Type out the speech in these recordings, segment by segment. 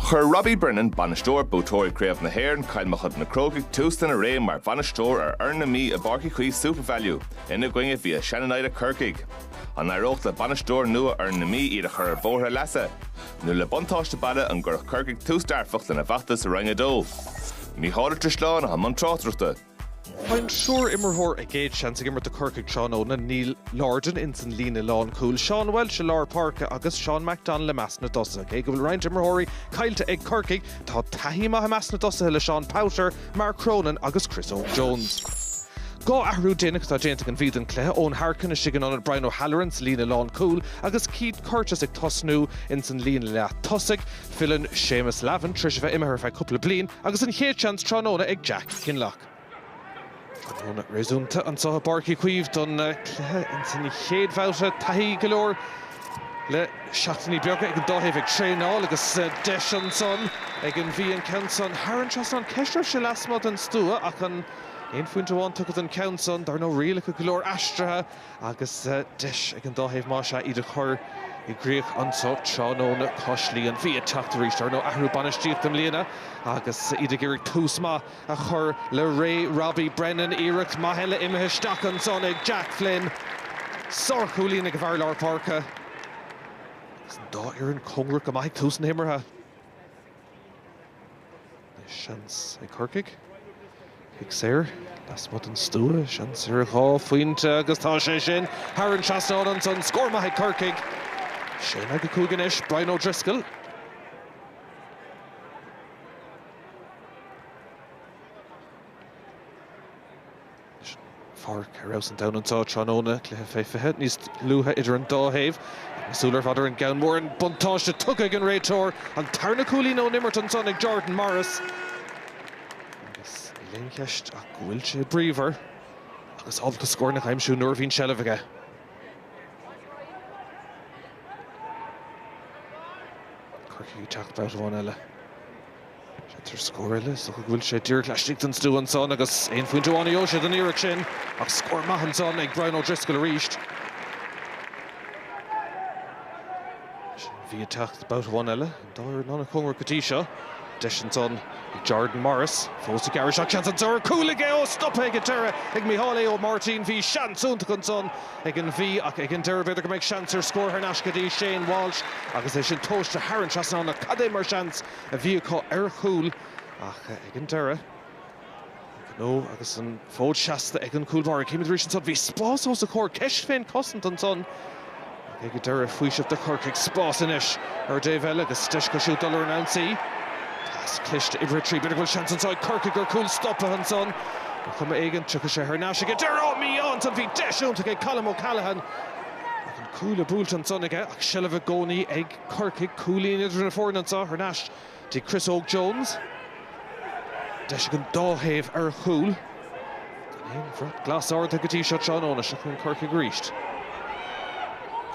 Chuir Robbie Brennan, bainisteoir Buaiteoirí Chraobh na hÉireann Chill Mochuda Na Crócaigh tús lena ré mar bhainisteoir ar fhoireann na Mí i bPáirc Uí Chaoimh Supervalu ina gcoinne via Shannonada Corcaigh. An n-éireodh le bainisteoir nua fhoireann na Mí iad a chur ar bhóthar a leasa? Nó le buntáiste baile an gcuirfeadh Corcaigh tús dearfach lena bhfeachtas i Roinn 2? Mícheál Ó Drisleáin, i mbun tráchtaireachta. Tá triúr imreoir a gcéad seans ag imirt do Chorcaigh tráthnóna, Neil Lordan ins an líne lánchúil, Seán Walsh i lár páirce agus Seán McDonnell i measc na dtosaithe. Cé go bhfuil roinnt imreoirí caillte ag Corcaigh, tá taithí mhaith i measc na dtosaithe le Seán Powter, Mark Cronin agus Chris Óg Jones. Dhá athrú déanach atá déanta ag an Mhí don chluiche, Eoin Harkin istigh in ionad Brian O'Halloran sa líne lánchúil agus Keith Curtis ag tosnú ins an líne leath tosaigh. Filleann Séamus Lavin tréis a bheith imithe ar feadh cúpla bliain agus an chéad seans tráthnóna ag Jack Kinlough. Tráthnóna réasúnta anseo i bPáirc Uí Chaoimh don chluiche ins an chéad bhabhta. Taithí go leor le seachtainí beaga ag an dá thaobh ag traenáil agus deis ansan ag an Mhí an ceann san thar an trasnán. Ceist raibh sé lasmuigh den stua ach aon phointe amháin tugtha don cheann san. Dar ndóigh rialacha go leor aistrithe. agus deis ag an dá thaobh más ea iad a chur i gcrích anseo tráthnóna cois Laoi an Mhí ag teacht arís dar ndóigh athrú bainistíochta i mbliana agus iad ag iarraidh tús maith a chur le ré Robbie Brennan. Iarracht mhaith eile imithe isteach ansan ag Jack Flynn. Sárchúilín ag a bhfear lár páirce is an dá fhoireann cóngarach go maith ag tús na himeartha. Seans ag Corcaigh. Cic saor lasmuigh den stua. Seans ar dhá phointe agus tá sé sin thar an trasnán ansan. Scór maith ag Corcaigh. 6 in aghaidh a 5 anois. Brian O'Driscoll. Páirc ar fheabhas an domhain anseo tráthnóna, cluiche fé 20 níos luaithe idir an dá thaobh, súile ar fad ar an gceann mór, an buntáiste tugtha ag an réiteoir, an tarna cúilín ón imirt ansan ag Jordan Morris agus níl aon cheist ach go bhfuil sé bríomhar agus ábalta scóranna a aimsiú nuair a bhíonn seilbh aige. Corcaigh ag teacht babhta amháin eile. Seans ar scór eile más go bhfuil sé díreach laistigh den stua ansan agus aon phointe amháin a gheobhadh siad an iarraidh sin ach scór maith ansan ag Brian O'Driscoll arís. An Mhí ag teacht babhta amháin eile an dá fhoireann an-chóngarach go dtí seo. Deis ansan ag Jordan Morris, fós ag gearradh isteach seans ansan ar chúl aige ó stoptha ag an deireadh ag Micheál Aodh Martin. Bhí seans iontach ansan ag an Mhí ach ag an deireadh b'fhéidir go mbeidh seans ar scór thar n-ais go dtí Shane Walsh agus é sin tomhaiste thar an trasnán ach cad é mar seans a bhí acu ar a chúl ach ag an deireadh, ó agus an fód seasta ag an gcúl báire. Chímid arís ansan. Bhí spás os a chomhair, ceist fén chosaint ansan ach ag an deireadh, faoiseamh do Chorcaigh. Spás anois ar an dtaobh eile agus deis acu siúd dul ar an ionsaí. Pas cliste uimhir a trí. B'fhéidir go bhfuil seans anso ag Corcaigh ar chúl stopaithe ansan. Ar chuma éigin, tháinig sé thar n-ais ag an deireadh. Á, mí-ádh ansan. Bhí deis iontach ag Colm O'Callaghan ar chúl buailte ansan aige ach seilbh i gcónaí ag. Corcaigh. Cúilín idir na foirne anseo thar n-ais dtí Chris Óg Jones. Deis ag an dá thaobh ar chúl. Gan aon bhrat glas ardaithe go dtí seo tráthnóna. Seo chugainn Corcaigh arís.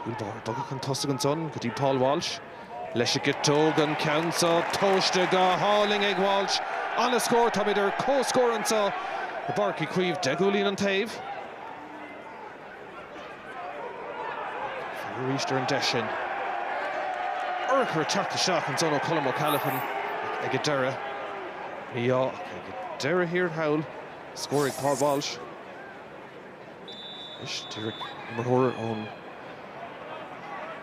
Cúl báire bogtha chun tosaigh ansan go dtí Paul Walsh. Leis an gciotóg an ceann seo. Tomhaiste go hálainn ag Walsh. An-scór. Táimid ar comhscór anseo i bPáirc Uí Chaoimh. Deich gcúilín an taobh. Chímid arís ar an deis sin. Urchar ag teacht isteach anso ó Colm O'Callaghan ag an deireadh. Ní hea ag an deireadh thiar thall scór ag Paul Walsh. Anois díreach imreoir ón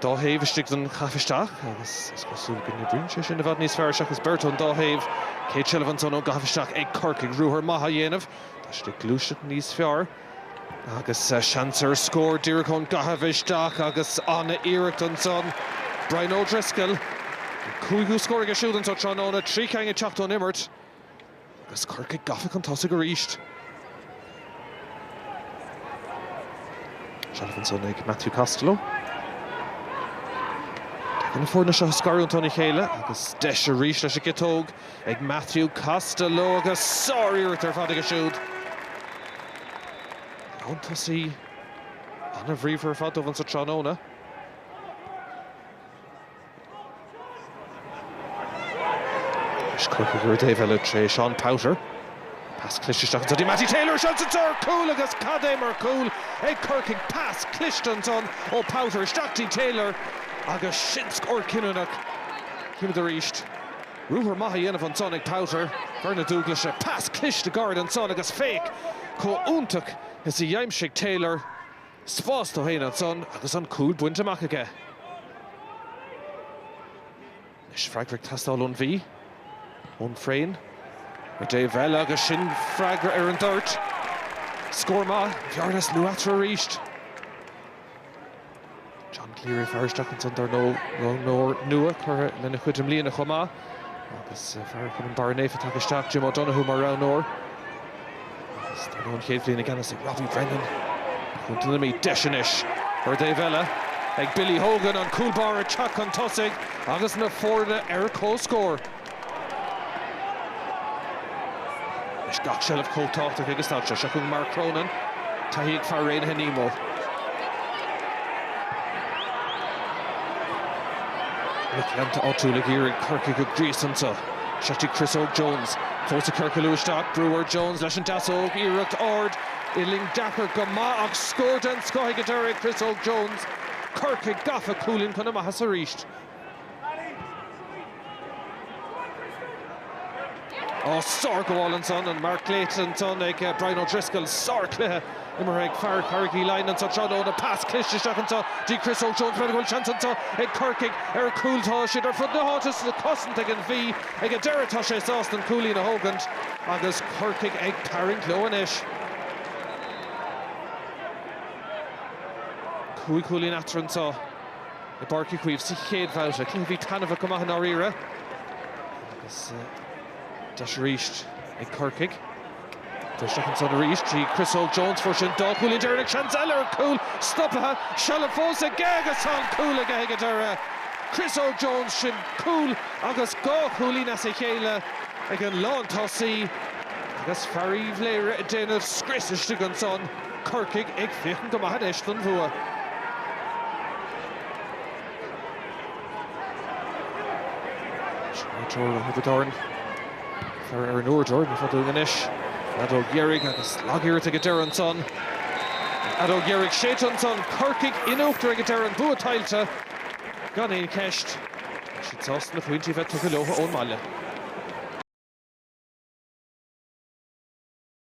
dá thaobh istigh don chaitheamh isteach agus is cosúil go n-oibríonn sé sin i bhfad níos fearr seachas beirt ón dá thaobh. Céad seilbh ansan ón gcaitheamh isteach ag Corcaigh. Ruathar maith á dhéanamh. Tá siad ag gluaiseacht níos fearr. Agus seans ar scór díreach ón gcaitheamh isteach agus an-iarracht ansan. Brian O'Driscoll, an cúigiú scór aige siúd anseo tráthnóna, trí cheann ag teacht ón imirt agus Corcaigh gafa chun tosaigh arís. Seilbh ansan ag Matthew Costello. Tagann na foirne seo scarúnta óna chéile agus deis arís leis an gciotóg. ag Matthew Costello agus sár-iarracht ar fad aige siúd. Lán tosaí an-bhríomhar ar fad dóibh anseo tráthnóna. Anois Corcaigh ar an dtaobh eile tré Seán Powter. Pas cliste isteach ansan do Mattie Taylor. Seans anso ar chúl agus cad é mar chúl ag Corcaigh. Pas cliste ansan ó Powter isteach dtí Taylor agus sin scór cinniúnach. Chímid arís. Ruathar maith á dhéanamh ansan ag Powter. Fear na Dúglaise. Pas cliste gairid ansan agus féach chomh iontach is a d'aimsigh Taylor spás dó féin ansan agus an cúl bainte amach aige. Anois freagra ag teastáil ón Mhí, ó Frayne. Ar an dtaobh eile agus sin freagra ar an dtoirt. Scór maith. Bearna is lú eatarthu arís. John Cleary fear isteach ansan dar ndóigh, roghnóir nua curtha lena chuid i mbliana chomh maith agus fear chumann Bharra Naofa tagtha isteach, Jim O'Donoghue mar roghnóir. Agus tá an chéad bhliain i gceannas ag Robbie Brennan ar Chontae na Mí. Deis anois ar an dtaobh eile ag Billy Hogan, an cúl báire ag teacht chun tosaigh agus na foirne ar comhscór. Anois gach seilbh chomh tábhachtach ag an staid seo. Seo chugainn Mark Cronin, taithí ag fear Raonaithe Nemo. Anois lucht leanúna áitiúil ag iarraidh Corcaigh a ghríosadh anseo. Seo go dtí Chris Óg Jones. Fós ag ciorcailiú isteach, Brewer, Jones leis an deasóg, iarracht ard, uillinn deacair go maith ach scór den scoth ag an deiridh ag Chris Óg Jones. Corcaigh gafa, cúilín chun a maitheasa arís. Ó, sárghabháil ansan, an marc glaoite ansan ag Brian O'Driscoll. Sárchluiche imeartha ag fear Charraig Uí Leighin anso tráthnóna. Pas cliste isteach anso go dtí Chris Óg Jones. B'fhéidir go bhfuil seans anso ag Corcaigh ar chúl. Tá siad ar fud na háite sa chosaint ag an Mhí. Ag an deireadh tá sé sásta an cúilín a thógaint agus Corcaigh ag tarraingt leo anois. Cúig chúilín eatarthu anso. i bPáirc Uí Chaoimh sa chéad bhabhta. Cluiche a bhí taitneamhach go maith i ndáiríre agus deis arís ag Corcaigh siúd isteach ansan arís trí Chris Óg Jones, fuair sé an dá chúilín deireanach, seans eile ar chúl stoptha. Seilbh fós aige agus tá an cúl aige ag an deireadh. Chris Óg Jones, sin cúl agus dhá chúilín as a chéile ag an lántosaí agus fear Uíbh Laoghaire ag déanamh scrios istigh ansan. Corcaigh ag féachaint go maith anois don bhua. Jordan Morris i bhfad ón gcúl anois. Feadóg dheiridh agus lagiarracht ag deireadh ansan. Feadóg dheiridh séidte ansan. Corcaigh in uachtar ag deireadh an bua tuillte gan aon cheist. Tá siad sásta na pointí a bheith tugtha leotha ón mbaile.